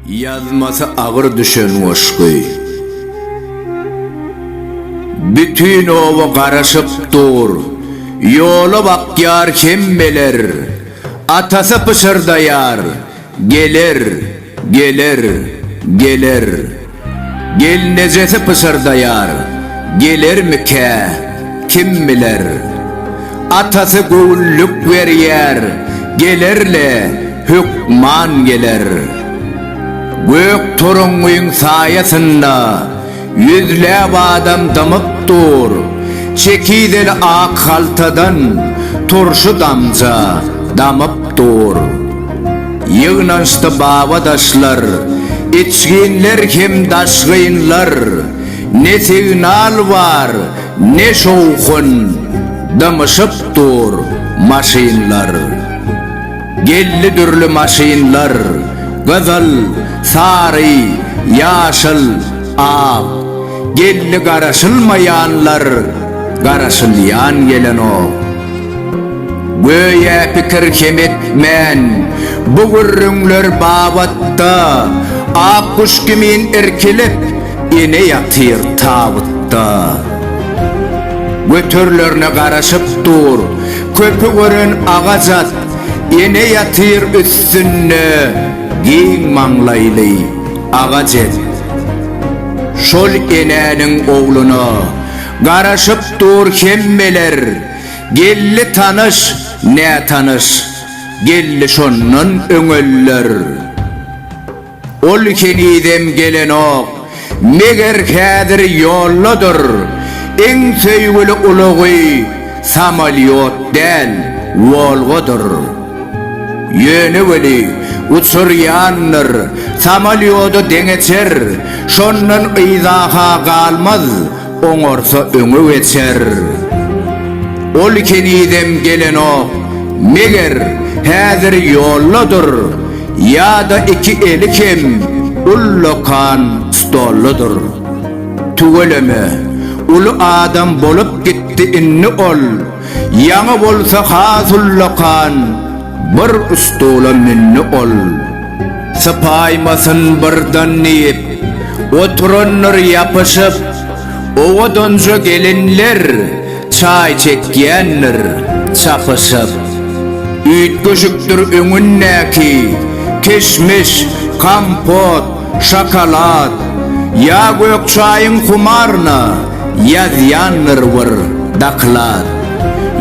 Ýazmasy agyr düşen goşgy. Bütin oba garaşyp dur. Ýola bakýar hemmeler. Atasy pyşyrdaýar. Geler, geler, geler. Gelnejesi pyşyrdaýar, Gelermikä, kim biler. Atasy göwünlik berýär, Geler-le, hökman geler. Gök toruňňyň saýasynda. Ýüzläp adam dymyp dur. Çekizeli ak haltadan turşy damja damyp dur. Ýygnanyşdy baba-daşlar, içginler hem daşgynlar. Ne signal bar, ne şowhun, dymyşyp dur maşynlar. Geldi dürli maşynlar, gyzyl, sary, ýaşyl, ak. Geldi garaşylmaýanlar, garaşylýan gelenok. Göýä pikir hem etmän, bu gürrüňler babatda ak guş kimin irkilip, ene ýatyr tabytda. Göterilerine garaşyp dur. Köpi gören agaç at, ene ýatyr üstünde, giň maňlaýly, agaç et. Şol enäniň ogluna garaşyp dur hemmeler, geldi tanyş, nätanyş, geldi şondan öňeller. Ol henizem gelenok. Meger häzir ýoldadyr. Iň söýgüli ulagy samolýot däl, Wolgadyr. Ýöne weli, uçurýandyr. Samolýoda deňeçer. Şondan yzaha galmaz. Oňarsa öňe geçer. Ol henizem gelenok, meger, häzir ýoldadyr, ýa-da iki eli hem ullakan stoldadyr. Tüweleme, uly adam bolup gitdi indi ol, ýaňy bolsa has ullakan bir stula mündi ol. Sypaýmasyn birden diýip, oturandyr ýapyşyp, owadanja gelinler çaý çekýändir çapyşyp. Üýtgeşikdir öňündäki kişmiş, kompot, şokolad, ýa gök çaýyň humaryna ýazýandyr bir doklad.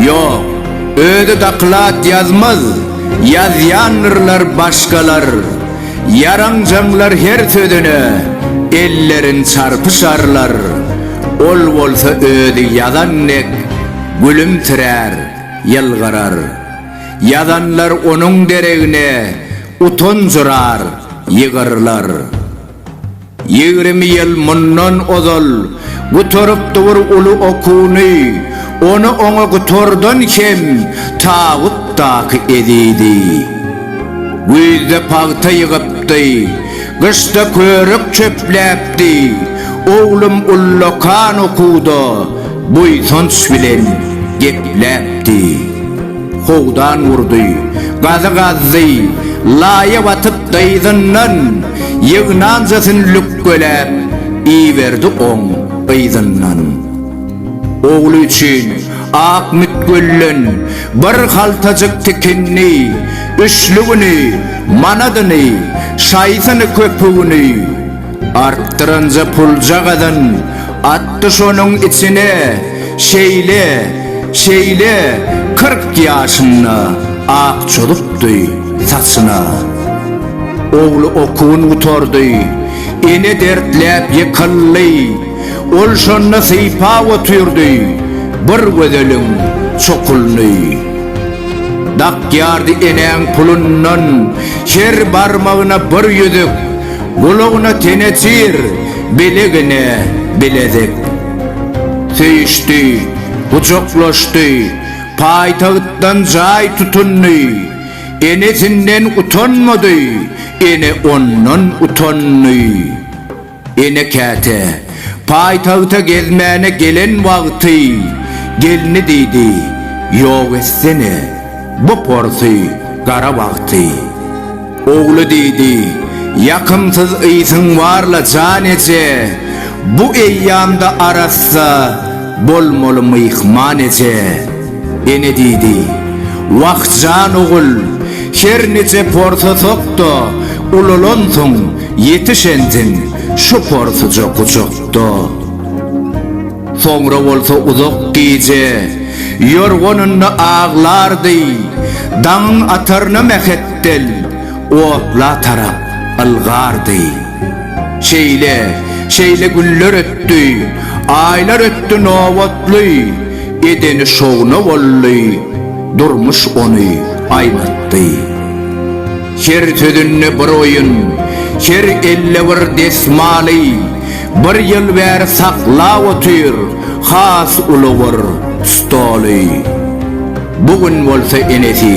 Ýok, özi doklad ýazmaz. Ýazýandyrlar başgalar, ýaranjaňlar her sözüne ellerin çarpyşarlar, ol bolsa özi ýazan dek gülümsirär, ýylgyrar. Ýazanlar onuň deregine utanjyrar, ýygyrlar. Ýigrimi ýyl mundan ozal gutarypdy bir uly okuwny, ony oňa gutardan hem tabutdaky ezidi. Güýzde pagta ýygypdy, gyşda körük çöpläpdi, oglum ullakan okuwda buýsanç bilen gepläpdi. Howdan urdy, gazy gazdy, laýa batyp dyzyndan, ýygnanjasyn lükgeläp, iberdi oň yzyndan. Ogly üçin ak mütgülden bir haltajyk tikindi, üçlügini, manadyny, şaýsyny-köpügini, Artdyranja pulja gazan atdy şonuň içine Şeýle, şeýle, kyrk ýaşynda ak çozupdy saçyna. Ogly okuwyn gutardy, ene dertläp ýykyldy, Ol şonda sypap otyrdy bir gözeliň çokulyny. Dakýardy enäň pulundan her barmagyna bir ýüzük, Gulagyna tenejir, bilegine bilezek. Söýüşdi, gujaklaşdy, paýtagtdan jaý tutundy. Enesinden utanmady, ene ondan utandy. Ene käte, paýtagta gezmäne gelen wagty, gelni diýdi, Ýok etsene, bu porsy gara wagty. Ogly diýdi, Ýakymsyz ysyň bar-la, jan eje, bu eýýamda arassa bolmaly myhman eje. Ene diýdi, Wah, jan ogul, her nije porsasak-da, ulalansoň, ýetişensiň, şu porsuja gujakda. Soňra bolsa uzak gije ýorganynda aglardy, daňyň ataryna mähetdel otla tarap ylgardy. Şeýle, şeýle günler ötdi, aýlar ötdi nobatly, edeni şowuna boldy, durmuş ony aýnatdy. Her sözünde bir oýun, her elde bir desmaly, Bir ýyl bäri saklap otyr, has uly bir stoly. Bu gün bolsa enesi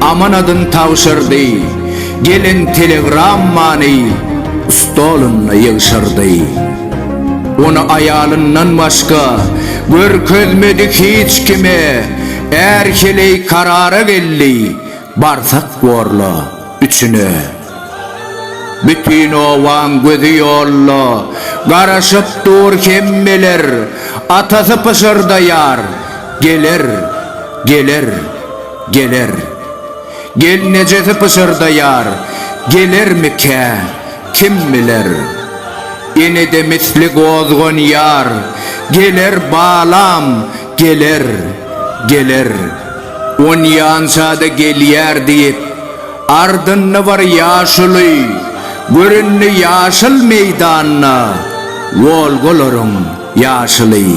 amanadyn tabşyrdy, gelen telegrammany stolunda ýygşyrdy. Ony aýalyndan başga görkezmedi hiç kime, är heleý karara geldi, barsak bor-la, üçüne. Bütin obaň gözi ýolda, Garaşyp dur hemmeler. Atasy pyşyrdaýar, Geler, geler, geler. Gelnejesi pyşyrdaýar, Gelermikä, kim biler. Enede misli gozganýar, Geler, balam, geler, geler. Onýança-da gelýär diýip. Ardynda bar ýaşuly, görünli ýaşyl meýdanda, Wolgalaryň ýaşyly.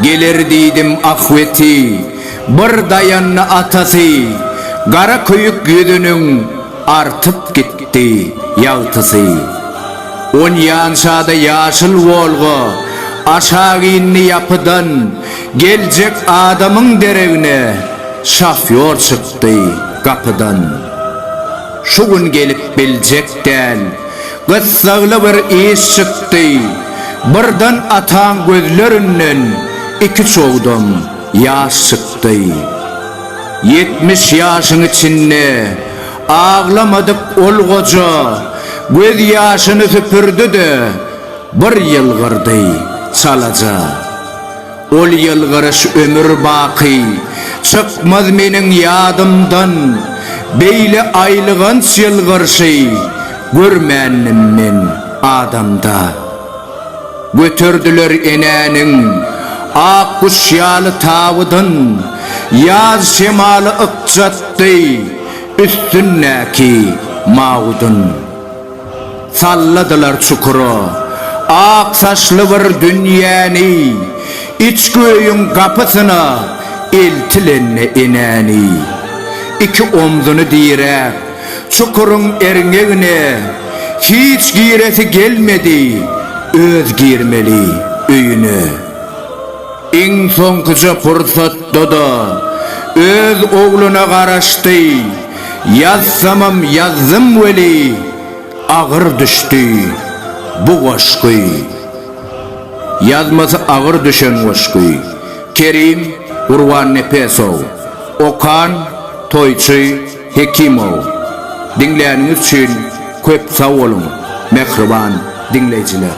Geler diýdim ahweti, bir daýandy atasy, Gara köýük ýüzüniň artyp gitdi ýagtysy. Onýançada ýaşyl Wolga aşak indi ýapydan, Geljek adamyň deregine şofýor çykdy. çykdy gapydan. Şu gün gelip biljek däl. Gyssagly bir iş çykdy. Birden ataň gözlerinden iki çogdam ýaş çykdy. Ýetmiş ýaşyň içinde aglamadyk ol goja göz ýaşyny süpürdi-de, bir ýylgyrdy çalaja. Ol ýylgyryş ömür baky çykmaz meniň ýadymdan, Beýle aýylganç ýylgyrşy görmändim men adamda. Göterdiler enäniň ak guş ýaly tabydyn, Ýaz şemaly ykjatdy üstündäki mawudyn. Salladylar çukura. Ak saçly bir dünýäni, Içki öýüň gapysyna eltilende enäni. Iki omzuny diräp, çukuryň erňegine Hiç giresi gelmedi öz girmeli öýüne. Iň soňkuja pursatda-da öz ogluna garaşdy. Ýazsamam ýazdym weli, agyr düşdi bu goşgy. Ýazmasy agyr düşen goşgy. Kerim Gurbannepesow. Okan Toýçy Hekimow. Diňläniňiz üçin köp sag boluň, mähriban diňleýjiler!